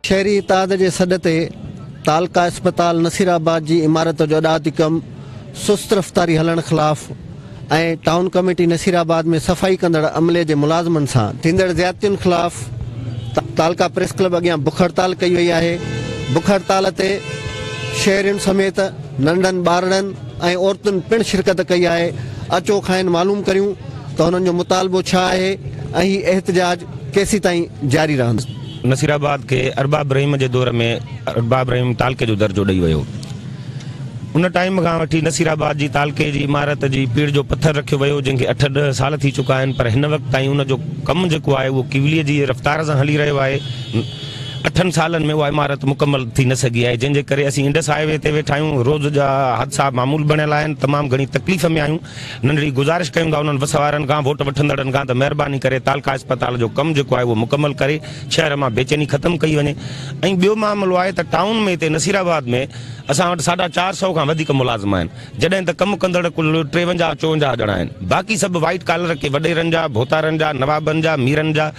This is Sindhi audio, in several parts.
شهري اتحاد جي سڏ تي تعلقه اسپتال نصيرآباد جي عمارت جو اڏاوتي ڪم سست رفتاري هلڻ خلاف ۽ ٽائون ڪميٽي نصير آباد ۾ صفائي ڪندڙ عملي جي ملازمن سان ٿيندڙ زيادتين خلاف تعلقه پريس ڪلب اڳيان بک هڙتال ڪئي وئي آهي بک هڙتال تي شهرين سميت ننڍن ٻارڙن ۽ عورتن پڻ شرڪت ڪئي آهي اچو کانئن معلوم ڪريون ته هنن جو مطالبو ڇا آهي ۽ هي احتجاج ڪيسيتائين جاري رهندو. نصير آباد کي ارباب رحيم جي دور ۾ ارباب رحيم تعلقي جو درجو ڏئي ويو. ان ٽائيم کان وٺي نصير آباد جي تعلقي جي عمارت جي پيڙهه جو پٿر رکيو ويو جنهن کي اٺ ڏهه سال ٿي چڪا آهن پر هن وقت تائين ان جو ڪم جيڪو آهي اهو ڪيولي جي رفتار سان هلي رهيو آهي اٺن سالن ۾ اها عمارت مڪمل ٿي نه سگهي آهي جنهن جي ڪري اسين انڊس هاء وي تي ويٺا آهيون روز جا حادثا معمول بڻيل آهن تمام گهڻي تڪليف ۾ آهيون ننڍڙي گذارش ڪيون ٿا انهن وس وارن کان ووٽ وٺندڙن کان ته مهرباني ڪري تعلقه اسپتال جو ڪم جيڪو آهي اهو مڪمل ڪري شهر مان بيچيني ختم ڪئي وڃي ۽ ٻيو معاملو آهي ته ٽائون ۾ هتي نصير آباد ۾ اسان وٽ ساڍا چار سئو کان وڌيڪ ملازم آهن جڏهن ته ڪم ڪندڙ ڪل ٽيونجاهه چوونجاهه ڄڻا آهن باقي سڀ وائيٽ ڪالر ڪي وڏيرن جا ڀوتارن جا نوابن جا ميرن جا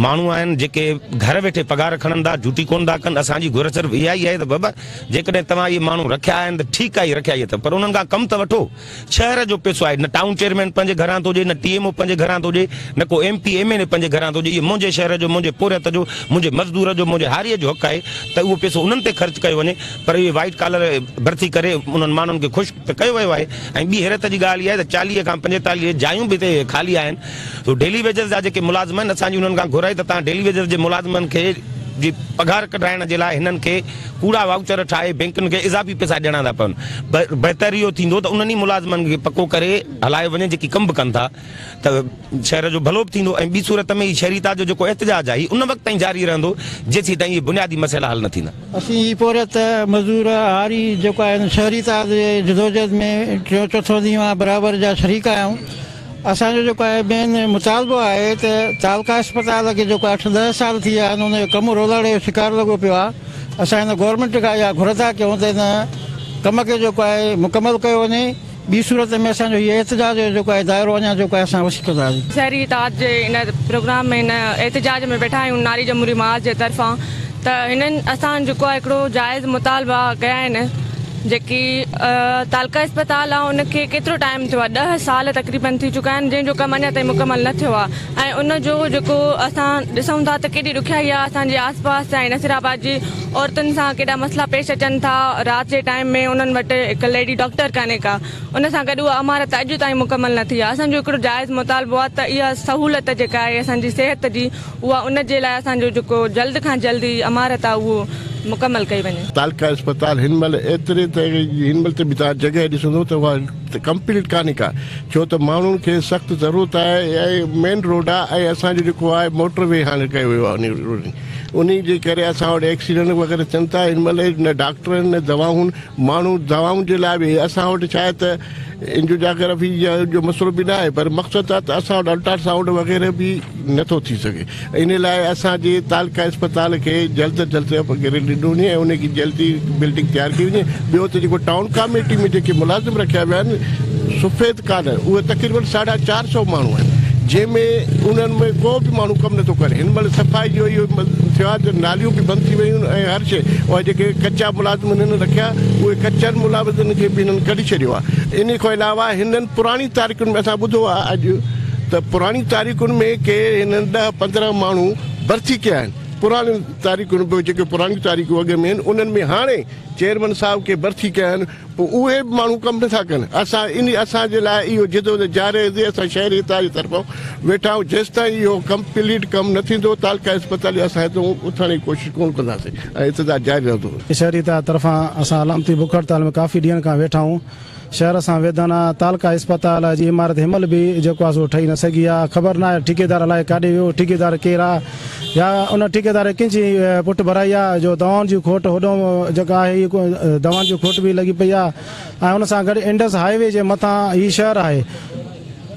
ماڻهو آهن جيڪي گهر ويٺي پگهار کڻن ٿا ڊيوٽي ڪونه ٿا ڪن اسان جي گهر صرف اها ئي آهي ته بابا جيڪڏهن توهان اهي ماڻهو رکيا آهن ته ٺيڪ آهي رکيا ئي اٿو پر انهن کان ڪم ته وٺو شهر جو پئسو آهي، نه ٽائون چيئرمين پنهنجي گهران ٿو ڏئي، نه ٽي ايم او پنهنجي گهران ٿو ڏئي، نه ڪو M P, M N A پنهنجي گهران ٿو ڏئي، اهو منهنجي شهر جو، منهنجي پورهيت جو، منهنجي مزدور جو، منهنجي هاريء جو حق آهي ته اهو پئسو انهن تي خرچ ڪيو وڃي پر اهي وائيٽ ڪالر ڀرتي ڪري انهن ماڻهن کي خوش ته ڪيو ويو آهي ۽ ٻي حيرت جي ڳالهه اها آهي ته چاليهه کان پنجيتاليهه جايون به هتي خالي آهن سو ڊيلي ويجز جا جيڪي ملازم آهن اسان جي انهن کان گهر آهي ته تهان ڊيلي ويجز جي ملازمن کي جي پگهار ڪڍرائڻ جي لاء هنن کي ڪوڙا وائوچر ٺاهي بئنڪن کي اضافي پئسا ڏيڻا ٿا پون. بهتر اهو ٿيندو ته انهن ئي ملازمن کي پڪو ڪري هلايو وڃي جيڪي ڪم به ڪن ٿا ته شهر جو ڀلو به ٿيندو ۽ ٻي صورت ۾ هي شهريتا جو جيڪو احتجاج آهي هي ان وقت تائين جاري رهندو جيسيتائين اهي بنيادي مسئلا حل نه ٿيندا. اسين هي پورهيت، مزدور، هاري جيڪو آهن شهريتا جي جدوجهد ۾ ٽيون چوٿون ڏينهن برابر جا شريڪ آهيون. اسان جو جيڪو آهي مين مطالبو آهي ته تعلقه اسپتال کي جيڪو اٺ ڏهه سال ٿي ويا آهن ان جو ڪم رولاڙي جو شڪار لڳو پيو آهي اسان هن گورنمينٽ کان اها گهر ٿا ڪيون ته ان ڪم کي جيڪو آهي مڪمل ڪيو وڃي ٻي صورت ۾ اسان جو هي احتجاج جو جيڪو آهي دائرو اڃا جيڪو آهي اسان وسيع ڪنداسين. شهري اتحاد جي ان پروگرام ۾ ان احتجاج ۾ ويٺا آهيون ناري جمهوري محاذ جي طرفان ته هنن اسان جيڪو آهي هڪڙو جائز مطالبا ڪيا آهن جيڪي تعلقه اسپتال آ ان کي ڪيترو ٽائيم ٿيو آ ڏهه سال تقريبن ٿي چڪا آهن جنهن جو ڪم اڃا تائين مڪمل نه ٿيو آ ۽ ان جو جيڪو اسان ڏسون ٿا ته ڪيڏي ڏکيائي آ اسان جي آس پاس ۽ نصيرآباد جي عورتن سان ڪيڏا مسئلا پيش اچن ٿا رات جي ٽائيم ۾ انهن وٽ هڪ ليڊي ڊاڪٽر ڪانهي ڪا ان سان گڏ اها عمارت اڄ تائين مڪمل نه ٿي آ اسان جو هڪڙو جائز مطالبو آ ته اها سهولت جيڪا آهي اسان جي صحت جي اها ان جي لاء اسان جو جيڪو جلد کان جلد هي عمارت آ اهو مڪمل ڪئي وڃي. تعلقه اسپتال هن مهل ايتري ته هن مهل ته به توهان جڳهه ڏسندو ته اها ڪمپليٽ ڪانهي ڪا ڇو ته ماڻهن کي سخت ضرورت آهي ۽ مين روڊ آ ۽ اسان جو جيڪو آهي موٽر وي هاڻي ڪيو ويو آهي انهي جي ڪري اسان وٽ ايڪسيڊنٽ وغيره ٿين ٿا هن مهل نه ڊاڪٽر آهن نه دوائون ماڻهو دوائن جي لاء به اسان وٽ ڇا آهي ته اينجيو جاگرافي جو مسئلو به نه آهي پر مقصد آ ته اسان وٽ الٽرا سائونڊ وغيره به نه ٿو ٿي سگهي ان لاء اسان جي تعلقه اسپتال کي جلد از جلد اپ گريڊ ڏنو وڃي ۽ ان کي جلدي بلڊنگ تيار ڪئي وڃي ٻيو ته جيڪو ٽائون ڪاميٽي ۾ جيڪي ملازم رکيا ويا آهن سفيد ڪالر اهي تقريبن ساڍا چار سئو ماڻهو آهن جنهن ۾ انهن ۾ ڪو به ماڻهو ڪم نٿو ڪري هن مهل صفائي جو اهو ٿيو آهي ته ناليون به بند ٿي ويون آهن ۽ هر شيء اهي جيڪي ڪچا ملازم هنن رکيا اهي ڪچن ملازمن کي به هنن ڪڍي ڇڏيو آهي ان کان علاوه هنن پراڻي تاريخن ۾ اسان ٻڌو آهي اڄ ته پراڻين تاريخن ۾ ڪي هنن ڏهه پندرهن ماڻهو برسي ڪيا آهن پراڻين تاريخن به جيڪي پراڻيون تاريخون اڳ ۾ آهن انهن ۾ هاڻي چيئرمن صاحب ڪي برسي ڪيا آهن پوء اهي به ماڻهو ڪم نٿا ڪن اسان ان اسان جي لاء اهو جدوجهد جاري رهندي اسان شهري اتحاد جي طرفان ويٺا آهيون جيستائين اهو ڪمپليٽ ڪم نه ٿيندو تعلقه اسپتال جي اسان هتون اٿڻ جي ڪوشش ڪون ڪنداسين ۽ احتجاج جاري رهندو. شهري اتحاد طرفان اسان علامتي بک هڙتال ۾ ڪافي ڏينهن کان ويٺا آهيون. شهر سان ويڌن تعلقه اسپتال جي عمارت هنمهل به جيڪو آهي سو ٺهي نه سگهي آهي، خبر ناهي ٺيڪيدار الائي ڪاڏي ويو، ٺيڪيدار ڪير آهي يا ان ٺيڪيدار ڪنهن جي پٺ ڀرائي آهي جو دوائن جي کوٽ هوڏانهن جيڪا آهي هي دوائن جي کوٽ به لڳي پئي آهي ۽ ان سان گڏ انڊس هاء وي جي مٿان هي شهر آهي،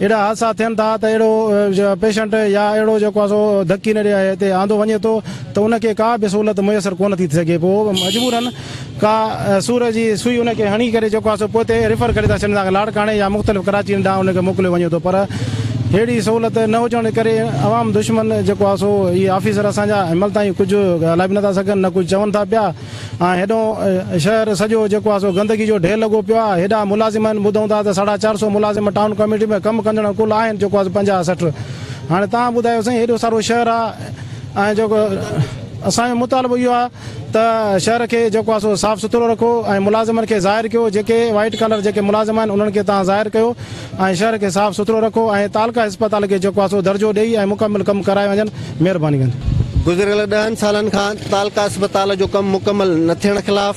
اهڙا حادثا ٿين ٿا ته اهڙو پيشنٽ يا اهڙو جيڪو آهي سو ڌڪي نڙي آهي هتي آندو وڃي ٿو ته ان کي ڪا به سهولت ميسر ڪونه ٿي سگهي پوء مجبورا ڪا سور جي سوئي ان کي هڻي ڪري جيڪو آهي سو پوء تي ريفر ڪري ٿا ڇڏين ٿا لاڙڪاڻي يا مختلف ڪراچين ڏانهن ان کي موڪليو وڃي ٿو پر اهڙي سهولت نه هجڻ جي ڪري عوام دشمن جيڪو آهي سو هي آفيسر اسان جا عمل تائين ڪجهه ڳالهائي به نٿا سگهن نه ڪجهه چون ٿا پيا ۽ هيڏو شهر سڄو جيڪو آهي سو گندگي جو ڍير لڳو پيو آهي. هيڏا ملازم آهن، ٻڌون ٿا ته ساڍا چار سؤ ملازم ٽائون ڪاميٽي ۾ ڪم ڪندڙ ڪل آهن جيڪو آهي سو پنجاهه سٺ. هاڻي توهان ٻڌايو سائين هيڏو سارو شهر آهي ۽ جيڪو اسان جو مطالبو اهو آهي ته شهر کي جيڪو آهي سو صاف سٿرو رکو ۽ ملازمن کي ظاهر ڪيو جيڪي وائيٽ ڪالر جيڪي ملازم آهن انهن کي توهان ظاهر ڪيو ۽ شھر کي صاف سٿرو رکو ۽ تعلقه اسپتال کي جيڪو آھي سو درجو ڏئي ۽ مڪمل ڪم ڪرائي وڃن مھرباني ڪندي. گذريل ڏهن سالن کان تعلقه اسپتال جو ڪم مڪمل نه ٿيڻ خلاف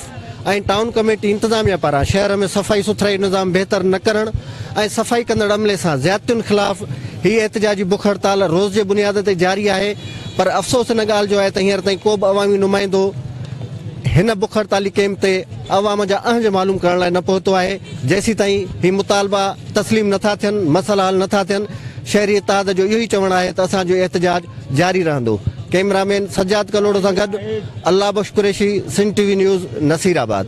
۽ ٽائون ڪميٽي انتظاميا پاران شهر ۾ صفائي سٿرائي نظام بهتر نه ڪرڻ ۽ صفائي ڪندڙ عملي سان زيادتين خلاف هي احتجاجي بک هڙتال روز جي بنياد تي جاري آهي پر افسوس ان ڳالهه جو آهي ته هينئر تائين ڪوبه عوامي نمائندو هن بک هڙتالي ڪيمپ تي عوام جا اهنج معلوم ڪرڻ لاء نه پهتو آهي، جيسيتائين هي مطالبا تسليم نٿا ٿين، مسئلا حل نٿا ٿين، شهري اتحاد جو اهو ئي چوڻ آهي ته اسان جو احتجاج جاري رهندو. ڪئميرا مين سجاد ڪلهوڙو سان گڏ Allah Bakhsh Qureshi, Sindh T V news, Nasirabad.